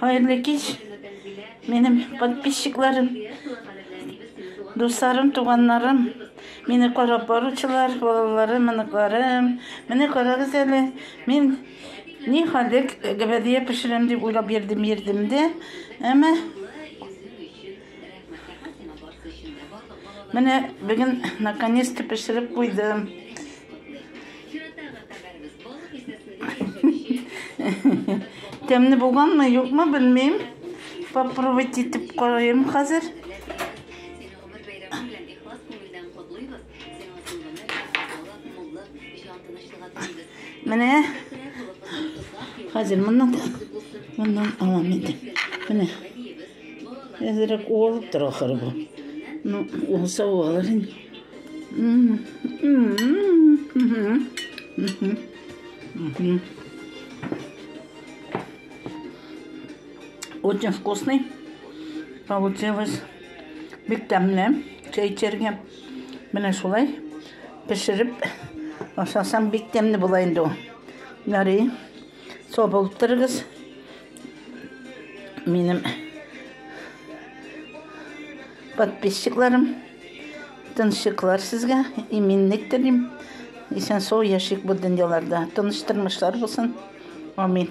Хәерле кич, минем подписчикларым, дусларым, туганнарым, мине карап баручылар, балаларым, оныкларым. Менә карагыз әле, мин ни хәлдә гәбәдия пешерәм дип уйлап йөрдем, йөрдем дә, әмма Менә бүген наконец-то пешереп куйдым. Тәмне булганмы, юкмы белмим. Попробовать итеп карыйм хәзер. Менә хәзер моннан моннан алам инде. Менә. Әзрәк уалып тора ахыры бу. Ну, уалса уалыр инде. Очень вкусный получилось. Бик тәмле чәй эчәргә. Менә шулай пешереп ашасам бик тәмле була инде ул. Ярый. Со булып торыгыз. Минем подписчикларым, тыншыклар сезгә иминлек телим. Исән сау яшик бу дөньяларда. Тыныч тормышлар булсын. Амин.